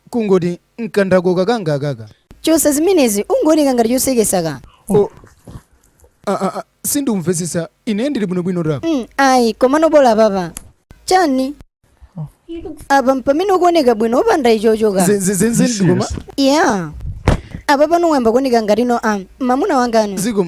kungoti mkandako kakangakaka chosa zimenezi ungooneka ngati chosekesa ka O- a- a- a, sindimvetsetsa ine ndili bwinobwino apa mm, ayi komano bola papa chani apa mpamene ukuoneka bwino opanda ichocho ka Zi- zi- zi- zi- ndikoma ya apa pano wayamba kuoneka ngati no am mamuna wanga no ziko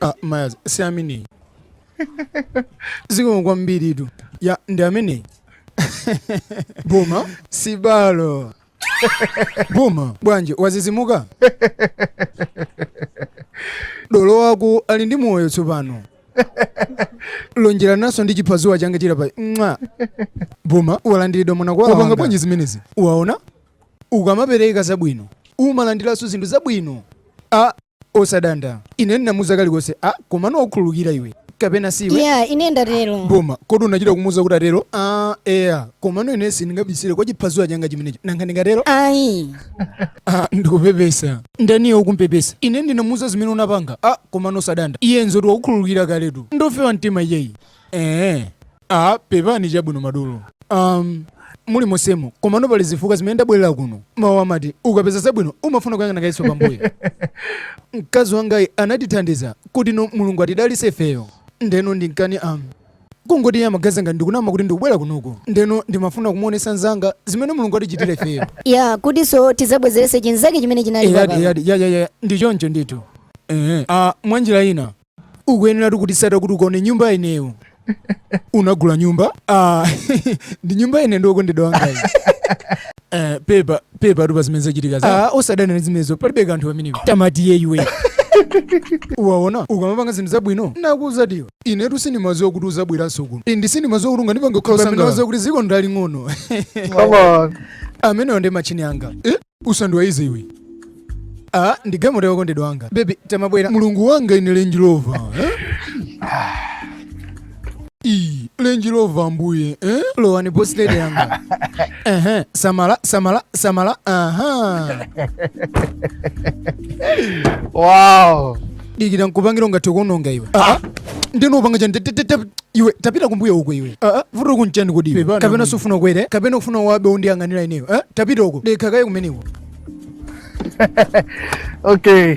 Ah, mayazi si ameneyi zikomo kwambiri tu ya ndi ameneyi boma sibalo boma bwanji wazizimuka dolo wako ali ndi moyo tsopano lonjerananso ndi chiphazuwa changachi pa mwa boma walandiridwa mwana akwanga bwanji zimenezi waona ukamapereka zabwino umalandiranso zinthu zabwino a Osadanda. Ine ndinamuza kalikonse. A, komano wakukhululukira iwe. Kapena siwe? Ya, ine ndatero. Boma, kodi unachita kumuza kuti atero? A, eya. Komano ine sindingabisire kwa chiphazuwa changa chimenecho. Nanga ndingatero? Ayi. Ah, ndikupepesa. Ndani yo ukumpepesa. Ine ndinamuza zimene unapanga. A, komano osadanda. Iye nzoti wakukhululukira kaletu. Ndofewa mtima iyeyi. Eh. Ah, pepani chabwino madolo. Um, muli monsemo komano pali zifukwa zimene ndabwerera kuno mawu amati ukapeza zabwino umafuna kuyang'ana kayiso pambuyo mkazi wangayi anatithandiza kuti no mulungu atidalise ifeyo ndeno ndi nkhani am kungoti iye amaganiza ngati ndikunama kuti ndikubwera kunoku ndeno ndimafuna kumuonesa mzanga zimene mulungu atichitira ifeyo ya kutiso tizabwezerese chinzake chimene chinali eyadi eyadi yayaya ndi choncho ndithu ehe ah, mwanjira ina ukuyenera kutitsata kuti ukaone nyumba ineyo unagula nyumba ah, ndi nyumba ine ndi wokondedwa wangayi Eh, pepa pepatu pa zimene zachitika za ah, osadanda ndi zimenezo palibe kanthu pamenepo tamatiye iwe waona ukamapanga zinthu zabwino nakuuza tiyo inetu sindimaziwa kuti uzabweranso kuno ndi sindimaziwa kuti ungandipange kukhala Pamene sangawa. waza kuti ziko ndi laling'ono Come on. amenewa ndi machini anga eh? usandiwaize iwe ah, ndi gamoto yokondedwa wanga bebi tamabwera mulungu wanga ine lenji lova eh? Ii, lenji lova mbuye eh? lowani bosi lede yanga Ehe, samala samala samala aha wow dikira nkupangire ungathe kuononga iwe nde upanga chani iwe tapita kumbuyo uko iwe vuto lako nchani kodi iwe Pepani, kapena mwenye. sufuna ukwere kapena ufuna wabe undiyang'anira ineyo eh? tapita uko dekha kaye kumeneko okay